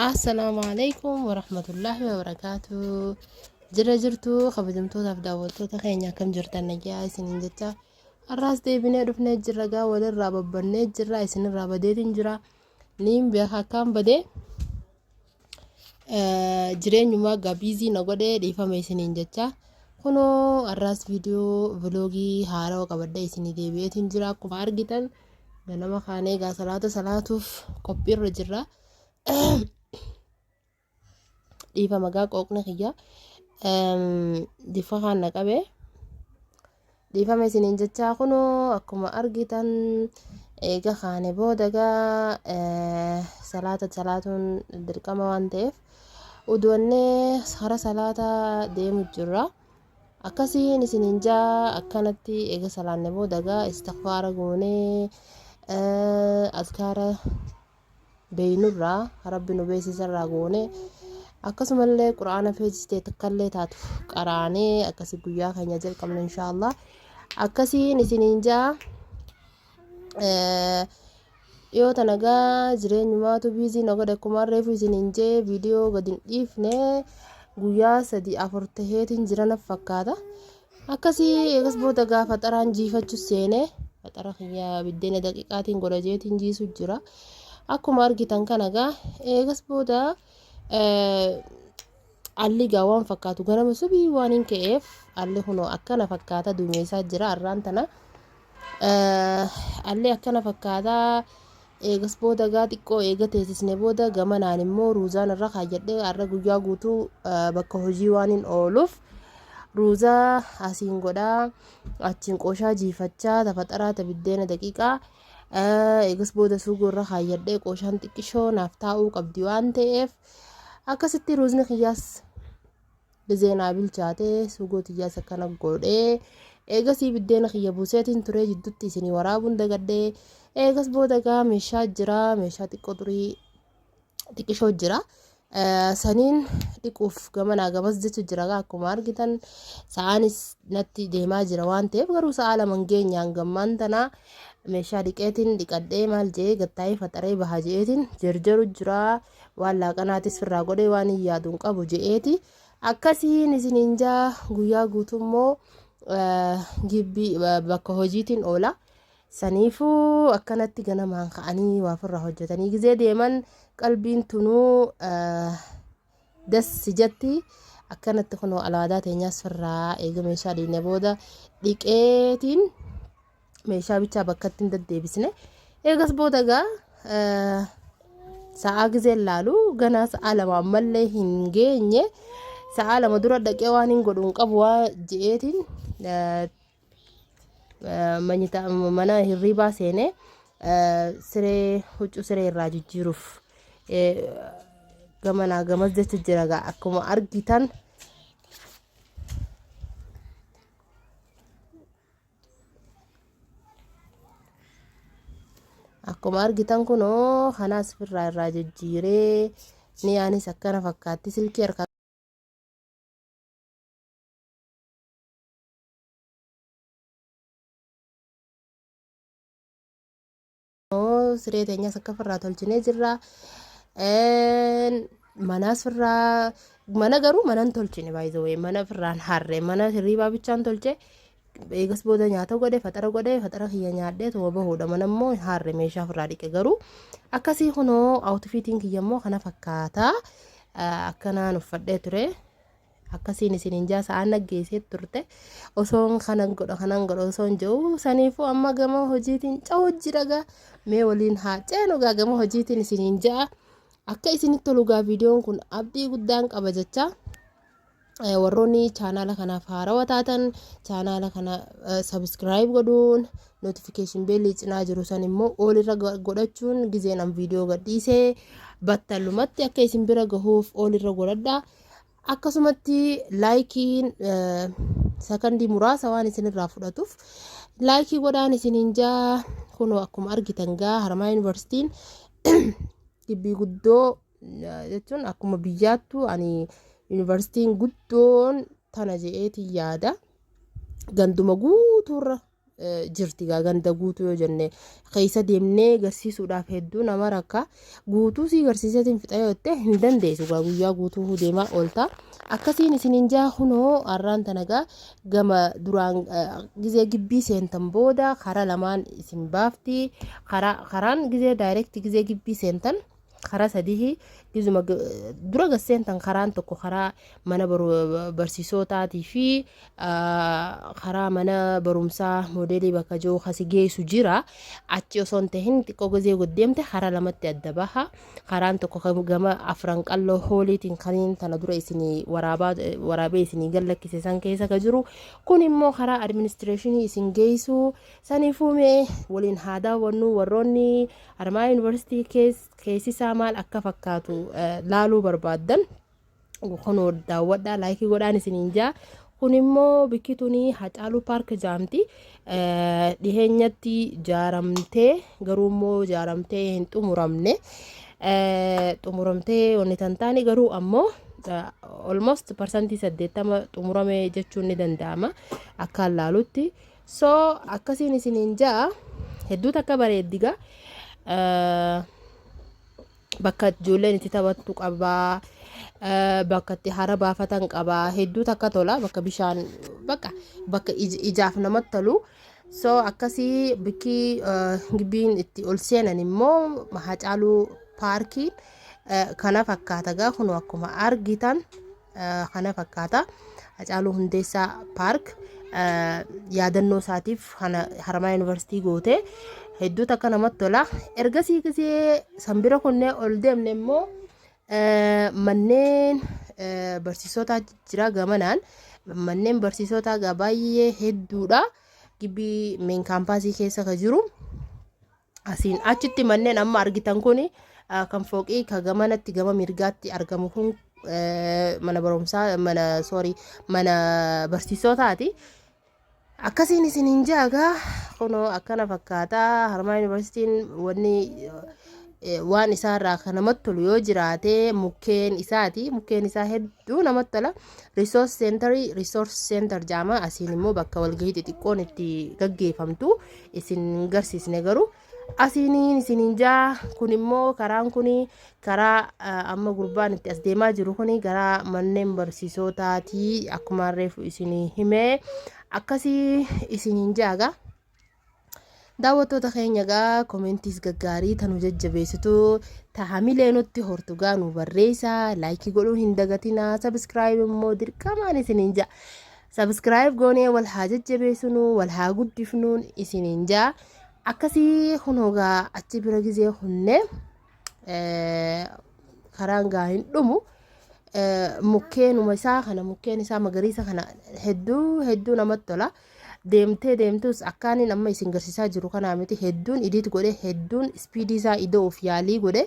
Assalaamu alaikum warahmatullaahi wabarakaatu. Jira jirtu kabajamtootaaf daawwattoota keenya akkam jirtan nagaya isiniin jecha har'aas deebinee dhufnee jirra gaa walirraa babbannee jirra isinirraa badeetiin jira niin beeka akkaan badee Jireenyumaa gaa biizii na godhee dhiifama isiniin jecha. Kunoo har'aas viidiyoo viloogii haarawa qabadhee isinii deebi'eetiin jira akkuma argitan ganama kaanee gaa salaata salaatuuf qophiirra jirra. Dhiifama gaa qooqni kiyya. Diffa kaan na qabee. Dhiifama isiniin jechaa kunoo akkuma argitan eega kaane booda gaa eh, salaata salaatuun dirqama waan ta'eef uduwannee hara salaata deemu jirra. Akkasiin isiniin jaa akkanatti eega salaanne booda gaa istikfaara goonee eh, azkaara beeynurraa rabbi nu beeysisarraa goone akkasumallee qur'aana feesistee takkallee taatu qaraanee akkasi guyyaa keenya jalqabne inshaallah akkasiin isiniin ja'a dhiyoo tana gaa jireenyumaatu biizii na godhe akkuma reefu isiniin jee viidiyoo gadi hin dhiifne guyyaa sadii afur taheetiin jirana fakkaata Akkasii eegas booda gaa faxaraan jiifachu seene faxara kiyya biddeena daqiiqaatiin godha jeetiin jiisu jira. Akkuma argitan kana gaa eegas booda alli gaa waan fakkaatu ganama subii waan hin ka'eef alli kunoo akkana fakkaata duumeessaa jira arraan tana Allee akkana fakkaata. Eegas booda gaa xiqqoo eega teessisne booda gamanaan immoo ruuzaan irra kaayyadhee har'a guyyaa guutuu bakka hojii waan hin ooluuf ruuzaa asiin godhaa achiin qooshaa jiifachaa tafaxaraa tabiddeena daqiiqaa eegas booda suugoo irra kaayyadhee qooshaan xiqqishoo naaf taa'uu qabdi waan ta'eef akkasitti ruuzni kiyyaas Dhizee naa bilchaate sugoo tiyyaas akkana goodhe. Eegasii biddeena kiyya buuseetiin turee jidduutti isinii waraabuun dagadhe. Eegas booda gaa meeshaa jira meeshaa xiqqoo xurii xiqqishoo jira. Saniin dhiquuf gamanaa gamas jecha jira gaa akkuma argitan sa'aanis natti deemaa jira waan ta'eef garuu sa'aa lama hin geenye hangammaan tana meeshaa dhiqeetiin dhiqadhee maal jee gattaa'ee faxaree baha jeetiin jarjaru jira. waan laaqanaatis firraa godhee waan hin yaadu hin qabu je'eeti akkasiin isiniin jaa guyyaa guutummoo gibbii bakka hojiitiin oola saniifuu akkanatti ganamaan ka'anii waa firraa hojjetanii gizee deeman qalbiin tunuu dassi jetti akkanatti kunoo alaadaa teenyaas firraa eega meeshaa dhiine booda dhiqeetiin meeshaa bichaa bakkatti hin deddeebisne eegas booda egaa sa'aa gizee laalu ganaa sa'aa lama ammallee hin geenye sa'aa lama dura dhaqee waan hin godhu hin qabu waa je'eetiin mana hirriibaa seenee siree huccuu siree irraa jijjiiruuf gamanaa gamas jecha jira gaa akkuma argitan Akkuma argitan kunoo kanaas firraa irraa jijjiiree ni yaanis akkana fakkaatti silkii harkaa Siree teenyaas akka firraa tolchinee jirra. Manaas firraa mana garuu manan tolchine baay'ee mana firraan harre mana hirriibaa bichaan tolche. Eegas booda nyaata godhe faxara godhe faxara kiyya nyaadhee tuma bahuudha mana immoo harre meeshaa firraa dhiqe garuu akkasii kunoo awutfiitiin kiyya immoo kana fakkaata akkanaan uffadhee ture. akkasiin isiniin jaa sa'aan naggeessee turte osoon kanan godha kanan godha osoon jedhu saniifuu amma gama hojiitiin ca'u jiragaa mee waliin haa ceenu gaa gama hojiitiin isiniin ja'a akka isinitti tolu gaa viidiyoon kun abdii guddaan qaba jecha eh, warroonni chaanaala kanaaf haarawa taatan chaanaala kana sabiskiraayib godhuun notifikashin beelii cinaa jiru san immoo oolirra go- godhachuun gizeen an viidiyoo gadhiisee battalumatti akka isin bira gahuuf oolirra godhadha akkasumatti laayikiin sakandii muraasa waan isinirraa fudhatuuf laayikii godhaan isiniin jaa kunoo akkuma argitan gaa haramaa yuunivarsiitiin gibbii guddoo jechuun akkuma biyyaattu ani yuunivarsiitiin guddoon tana je'eetiin yaada ganduma guutuurra jirti gaa ganda guutuu yoo jenne keessa deemnee garsiisuudhaaf hedduu nama rakka guutuu sii garsiiseetiin fixa yoo jette hin dandeessu gaa guyyaa guutuu deemaa oolta akkasiin isin hin jaa kunoo har'aan tana gaa gama duraan gizee gibbii seentan booda karaa lamaan isin baafti karaan gizee daayirekti gizee gibbii seentan. karaa sadihi gizuma dura gasseentan karaan tokko karaa mana barsiisootaatii fi karaa mana barumsaa moodeelii bakka jiru kasi geessu jira achi osoo hin tahin xiqqoo gizee goddeemte karaa lamatti adda baha karaan tokko gama afran qalloo hooliitiin kaniin tana dura isinii waraabee isinii gallakkise san keessa ka jiru kun immoo karaa administireeshinii isin geessu Saniifuu mee waliin haa daawwannu warroonni Haramayaa Yuunivarsiitii kees keessisaa maal akka fakkaatu eh, laaluu barbaaddan kunoo daawwadhaa laayikii godhaan isiniin jaa kun immoo bikki tuni Hacaaluu Paark jaamti Eh, dhiheenyatti jaaramtee garuu immoo jaaramtee hin xumuramne Eh, xumuramtee wanni tan taane garuu ammoo eh, almost parsantii saddeettama xumurame jechuun ni danda'ama akkaan laalutti So akkasiin isiniin ja'a hedduu takka bareeddi gaa eh, bakka ijoolleen itti taphattu qabaa eh, bakka itti hara baafatan qabaa hedduu takka tola bakka bishaan bakka bakka ij- ijaaf namatti tolu so akkasii bikki eh, gibbiin itti ol seenan immoo hacaaluu paarkiin eh, kana fakkaata gaa kun akkuma argitan kana fakkaata Hacaaluu Hundeessaa Paark yaadannoo isaatiif kana Haramaa Yuunivarsiitii goote hedduu takka namatti tola ergasii gisee sanbira kunnee ol deemne immoo manneen barsiisotaa jira gamanaan manneen barsiisotaa gaa baay'ee hedduudha gibbii meen kaampaasii keessa ka jiru Asiin achitti manneen amma argitan kun kan fooqii ka gamanatti gama mirgaatti argamu kun mana barumsaa mana soorii mana barsiisotaati. Akkasiin isin hin jaagaa kunoo akkana fakkaata harmaa yuunivarsiitiin wanni waan isaarraa kan namatti tolu yoo jiraate mukkeen isaati mukkeen isaa hedduu namatti tola riisoors seentarii riisoors seentar jaama asiin immoo bakka walgahii xixiqqoon itti gaggeeffamtu isin hin garsiisne garuu asiiniin isiniin jaa kun immoo karaan kun karaa ah, amma gurbaan itti as deemaa jiru kun gara manneen barsiisootaati akkuma reefu isinii himee akkasii isiniin jaaga. daawwattoota keenya egaa koomentiis gaggaarii tanu jajjabeessitu tahamilee nutti hortu gaa nu barreessa laayikii godhuu hin dagatina sabiskiraayib immoo dirqamaan isiniin ja'a Subscribe goonee wal haa jajjabeessunuu wal haa guddifnuun isiniin jaa akkasii hunoogaa achi bira gizee hunne karaan gaa hin dhumu mukkeenuma isaa kana mukkeen isaa magariisa kana hedduu hedduu namatti tola deemtee deemtus akkaaniin amma isin garsiisaa jiru kanaa miti hedduun idiit godhe hedduun ispiidii isaa ida'uuf yaalii godhe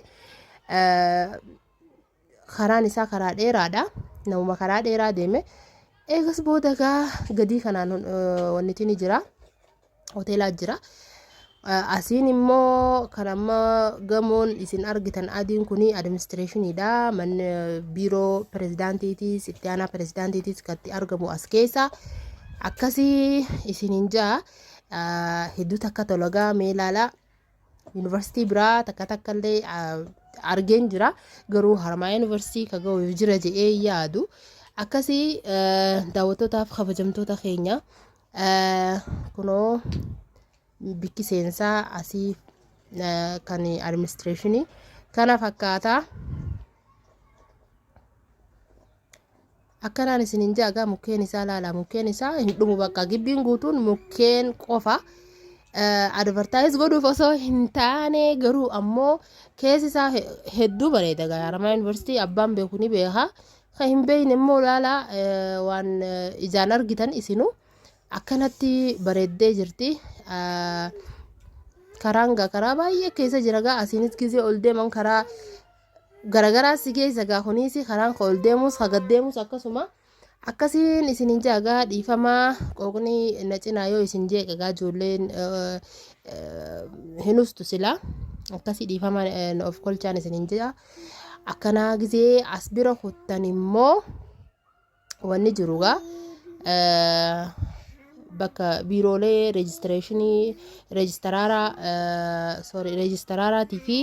karaan isaa karaa dheeraadha. Namuma karaa dheeraa deeme. Eegas booda egaa gadii kanaan eh, wannitiin ni jira. Hoteelaa jira. Eh, Asiin immoo kan amma gamoon isin argitan adiin kun administreeshiniidha. Manni eh, biiroo pirezidaantiitiis, itti aanaa pirezidaantiitiis kan itti argamu as keessa. Akkasii isiniin ja'a. Eh, Hedduu takka tolagaa mee ilaalaa. Yuunivarsiitii biraa takka takka illee argeen jira. Garuu harmaa yuunivarsiitii ka ga'u jira jedhee yaadu. Akkasii daawwattootaaf kabajamtoota keenya kunoo bikki seensaa asii kan administreeshinii kana fakkaata. Akkanaan isinin ja'a gaa mukkeen isaa laalaa mukkeen isaa hin dhumu bakka gibbiin guutuun mukkeen qofa advertise godhuuf osoo hin taane garuu ammoo keessi isaa hedduu bareeda gaa Haramaa Yuunivarsiitii abbaan beeku ni beeka kan hin beekne immoo laalaa waan ijaan argitan isinu akkanatti bareeddee jirti. Karaan gaa karaa baay'ee keessa jira gaa asiinis gisee ol deeman karaa garagaraa si geessa gaa kuniisi karaan ka ol deemuus ka gad deemuus akkasuma akkasiin isin hin ja'a gaa dhiifamaa qooqni na cinaa yoo isin jeeqe gaa ijoolleen eh, eh, hin ustu silaa akkasii dhiifamaa eh, na of kolchaan isin hin ja'a akkanaa gisee as bira kuttan immoo Wanni jiru gaa bakka biiroolee reejistireeshinii reejistaraaraa sorry reejistaraaraatii fi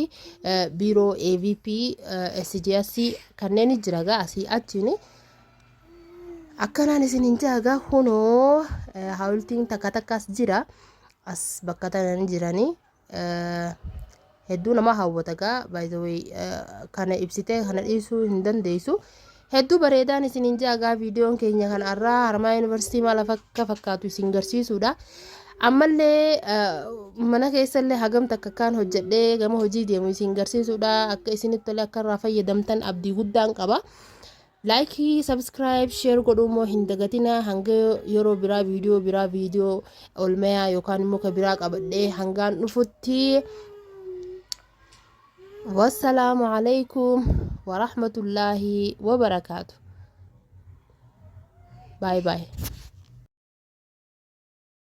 biiroo AVP SGS kanneen jira gaa asii achiin akkanaan isin hin jaa gaa kunoo hawultiin takka takkaas jira as bakka tanan jiranii. hedduu nama hawwata gaa by the way kana ibsitee kana dhiisuu hin dandeessu hedduu bareedaan isin hin jaagaa viidiyoon keenya kan arraa harmaa yuunivarsiitii maal akka fakkaatu isin garsiisuudha ammallee mana keessallee hagam takka kaan hojjedhee gama hojii deemu isin garsiisuudha akka isinitti tolee akka irraa fayyadamtan abdii guddaan qaba Like subscribe share godhuu immoo hin dagatinaa hanga yeroo biraa viidiyoo biraa viidiyoo olmayaa yookaan immoo ka biraa qabadhee hangaan dhufutti wassalaamu alaykum warahmatullaahi wabarakaatu baay baay